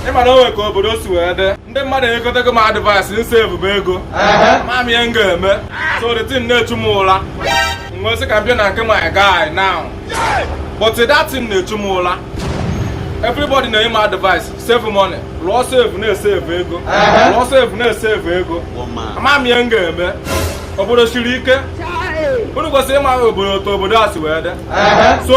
ịma na o nwe ka obodo si wee dị ndị mmadụ enyekọtago m advice m savebe ego ama m ihe m ga-eme so the thing na-echu m ụra m wee sị ka m bịa na nke my guy now but that thing na-echu m ụra everybody na-enye m advice save money lụọ safe na-esave ego lụọ safe na-esave ego ama m ihe m ga-eme obodo siri ike unu kwesịrị ịma obodo otu obodo a si wee dị so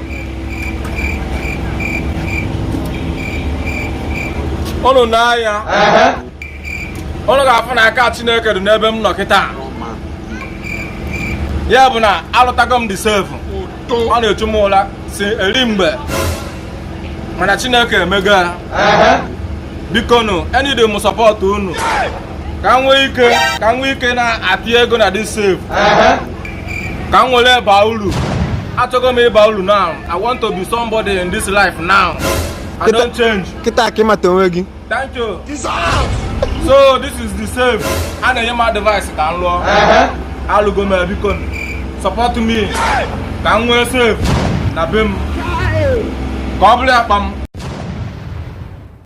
ụnụ n'anya ụnụ ga-afụ na aka Chineke dị n'ebe m nọ kịta ya bụ na alụtago m the safe ọ na-echu m ụla si eri mgbe mana Chineke emego ya biko nụ eneed m support unu ka m nwee ike na-atị ego na the safe ka m were baa uru achọgo m ịba uru now i want to be somebody in this life now i don change kịta ka ị mata onwe gị thank you so this is the safe a na-enye m advice ka m lụọ alụgo m ya, biko nụ. support me ka m nwee safe na be m ka ọ bụrụ akpa m